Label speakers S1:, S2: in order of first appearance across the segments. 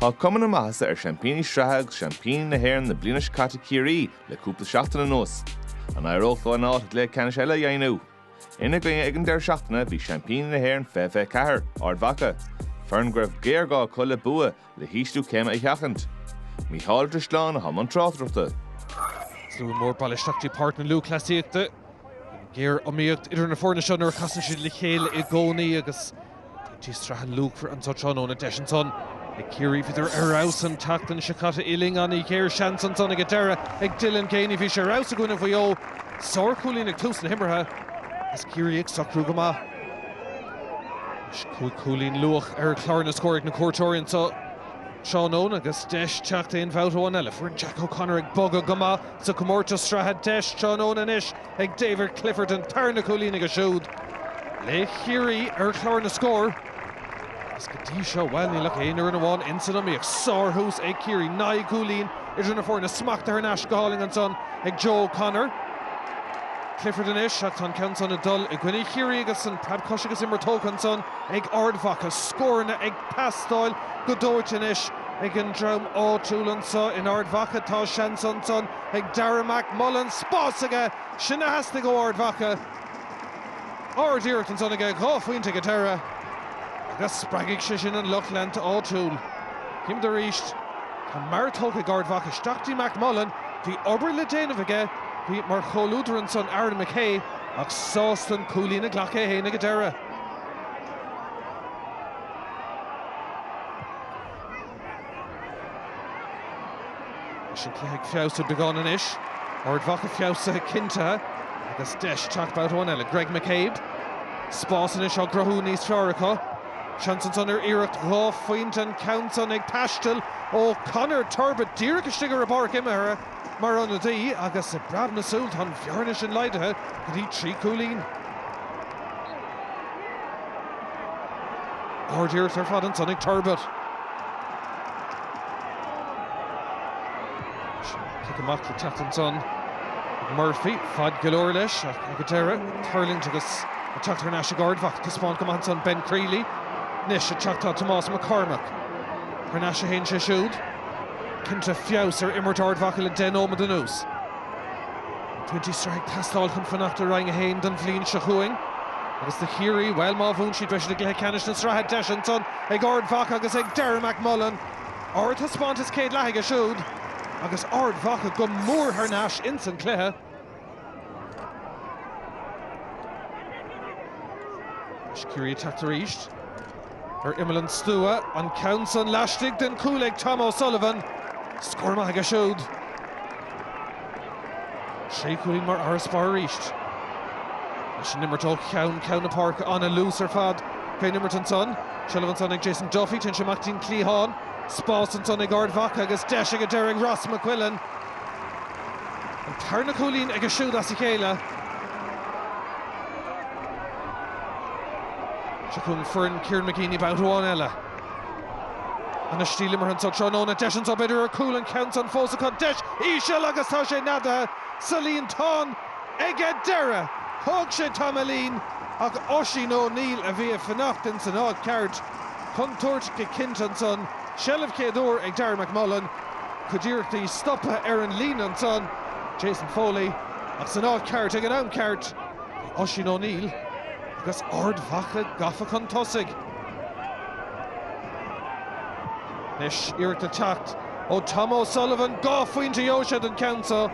S1: Tá cuma na maitheasa ar Seaimpíní Sraithe agus Seaimpíní na hÉireann na bliana seo caite Ciarraí le cúpla seachtain anuas. An éireoidh leo an áit i gcluiche ceannais eile a dheimhniú? Ina gcoinne ag an deireadh seachtaine bhí Seaimpíní na hÉireann fiche fiche ceathair, Ard Mhacha, foireann go raibh géarghá acu le bua le hísliú céime a sheachaint. Mícheál de Sleán atá i mbun tráchtaireachta.
S2: Slua mór bailithe isteach go dtí Páirc na Lúthchleasaíochta. Géariomaíocht idir na foirne seo nuair a chasann siad le chéile i gcónaí agus pointí sraithe luachmhar anseo tráthnóna. Deis ansan ag Ciarraí. Bhíodar ar fheabhas an tseachtain seo caite Dylan Geaney. Géarsheans ansan ag an deireadh ag Dylan Geaney. Bhí sé ar fheabhas i gcoinne Mhaigh Eo. Sár chúilín ag tús na himeartha is Ciarraí ag socrú go maith. Anois cúig chúilín luath ar chlár na scór ag na cuairteoirí anseo tráthnóna agus deis teacht aon bhabhta amháin eile. Foireann Jack O'Connor ag bogadh go maith sa chomórtas sraithe. Deis tráthnóna anois ag David Clifford an tarna cúilín aige siúd do Chiarraí ar chlár na scór. Is go dtí seo, bhuel, níl ach aon fhoireann amháin insan iomaíocht. Sárthús ag Ciarraí. Naoi gcúilín idir na foirne. Smachtaithe thar n-ais go hálainn ansan ag Joe O'Connor. Clifford anois ach tá an ceann san ag dul i gcoinne Chiarraí agus an preabchos agus imir tógtha ansan ag Ard Mhacha. Scóranna ag teastáil go dóite anois ag an dream áitiúil anso in Ard Mhacha. Tá seans ansan ag Darragh McMullen. Spás aige! Sin a theastaigh ó Ard Mhacha. Ard-iarracht ansan aige, dhá phointe ag an deireadh agus spreagfaidh sé sin an lucht leanta áitiúil. Chím arís. Tá marc tógtha ag Ard Mhacha. Isteach go dtí McMullen. Bhí obair le déanamh aige. Bhí mar chomhluadar ansan Aaron McKay ach sásta an cúilín a ghlacadh é fhéin ag an deireadh. Is an cluiche ag feabhsú beagán anois. Ard Mhacha feabhsaithe cinnte agus deis teacht babhta amháin eile. Greg McCabe. Spás anois á gcruthú níos fearr acu. Seans ansan ar iarracht dhá phointe, an ceann san ag taisteal ó Conor Turbitt díreach istigh ar an bpáirc imeartha mar ionadaí agus i bpreab na súl tá an bhearna sin laghdaithe go dtí trí chúilín. Ard-iarracht ar fad ansan ag Turbitt. Cic amach le teacht ansan ag Murphy. Faid go leor leis ach ag an deireadh tuirlingt agus ag teacht thar n-ais ag Ard Mhacha. Taispeánann go maith ansan Ben Crealey. Anois ag teacht tá Tomás McCormack. Thar n-ais a théann sé siúd. Cinnte feabhas ar imirt Ard Mhacha le deich nóimead anuas. Pointí sraithe ag teastáil chun fanacht i Roinn 1 don bhliain seo chugainn. Agus do Chiarraí, bhuel má bhuann siad beidh siad i gcluiche ceannais na sraithe. Deis ansan ag Ard Mhacha agus ag Darragh McMullen. Ardtaispeántas céad leatha aige siúd agus Ard Mhacha go mór thar n-ais ins an cluiche. Anois Ciarraí ag teacht arís ar imeall an stua. An ceann san laistigh den stua ag Tom O'Sullivan. Scór maith aige siúd. Sé chúilín mar fharasbarr arís. Leis an imirt ó cheann ceann na páirce, an-luas ar fad fén imirt ansan. Seilbh ansan ag Jason Duffy, téann sé amach dtí'n cliathán. Spás ansan ag Ard Mhacha agus deis ag an deireadh ag Ross McQuillan. An tarna cúilín aige siúd as a chéile. Seo chugainn foireann Kieran McGeeney babhta amháin eile. An-stíl imeartha anso tráthnóna. Deis anso b'fhéidir ar chúl an ceann san fós acu. Deis íseal agus tá sé neadaithe sa líontán ag an deireadh. Thóg sé tamaillín ach Oisín O'Neill a bhí ag fanacht in san áit cheart. Contúirt go cinnte ansan. Seilbh chéad uair ag Darragh McMullen. Cuid iarrachtaí stoptha ar an líne ansan. Jason Foley ach san áit cheart ag an am ceart. Oisín O'Neill agus Ard Mhacha gafa chun tosaigh. Anois iarracht ag teacht ó Tom O'Sullivan. Dhá phointe dhóibh siúd an ceann seo.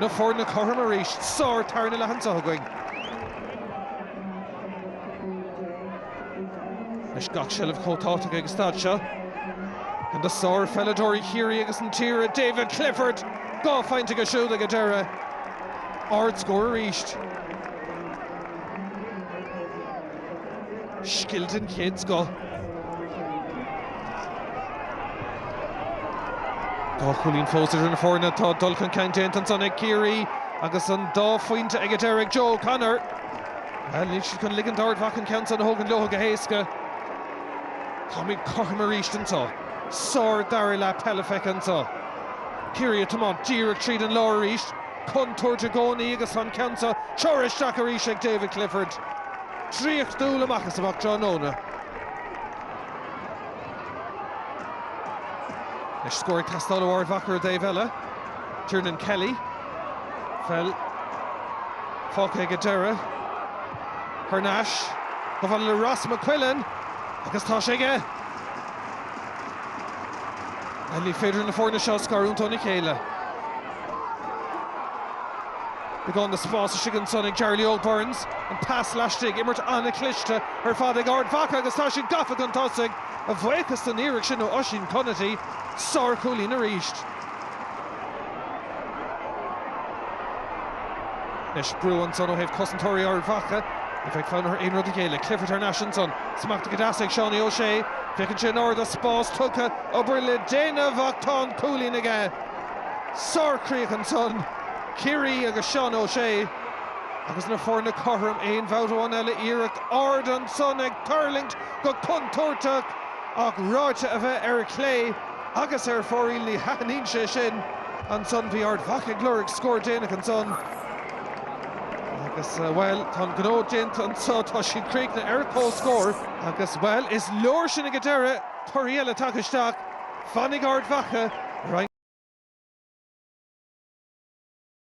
S2: Na foirne cothrom arís. Sár tarna leath anso againn. Anois gach seilbh chomh tábhachtach ag an stad seo. Duine de shár pheileadóirí Chiarraí agus na tíre, David Clifford. Dhá phointe aige siúd ag an deireadh. Ard scór arís. Scil den chéad scoth. Dhá chúilín fós idir na foirne. Tá dul chun cinn déanta ansan ag Ciarraí agus an dá phointe ag an deireadh ag Joe O'Connor. Bhuel, níl siad chun ligint d'Ard Mhacha an ceann san a thógaint leotha go héasca. Táimid cothrom arís anso. Sár dara leath peile feicthe anso. Ciarraí ag tiomáint díreach tríd an lár arís. contúirt i gcónaí agus tá an ceann san treoraithe isteach arís ag David Clifford. draíochtúil amach is amach tráthnóna. Anois scór ag teastáil ó Ard Mhacha ar an dtaobh eile. Tiernan Kelly. Peil fágtha ag an deireadh. Thar n-ais. Gafa le Ross McQuillan agus tá sé aige! Ní féidir na foirne seo a scarúint óna chéile. Beagán de spás istigh ansan ag Jarly Óg Burns. An pas laistigh, imirt an-chliste ar fad ag Ard Mhacha agus tá siad gafa chun tosaigh, a bhuíochas don iarracht san ó Oisín Conaty. Sár-chúilín arís. Anois brú ansan ó thaobh cosantóirí Ard Mhacha. Ní bheidh fonn orthu aon rud a ghéilleadh. Clifford thar n-ais ansan. Smacht go deas ag Seánie Ó Sé. Féachann sé in ard is spás tugtha. Obair le déanamh ach tá an cúilín aige. Sár-chríoch ansan. Ciarraí agus Seán Ó Sé. Agus na foirne cothrom aon bhabhta amháin eile. Iarracht ard ansan ag tuirlingt go contúirteach ach ráite é a bheith ar chlé. Agus ar fóraoil ní thaitníonn sé sin. Ansan bhí Ard Mhacha ag lorg scór déanach ansan agus bhuel, tá an gnó déanta anso, tá siad críochnaithe ar comhscór agus bhuel, is leor sin ag an deireadh, torthaí eile tagtha isteach, fanfaidh Ard Mhacha i roinn.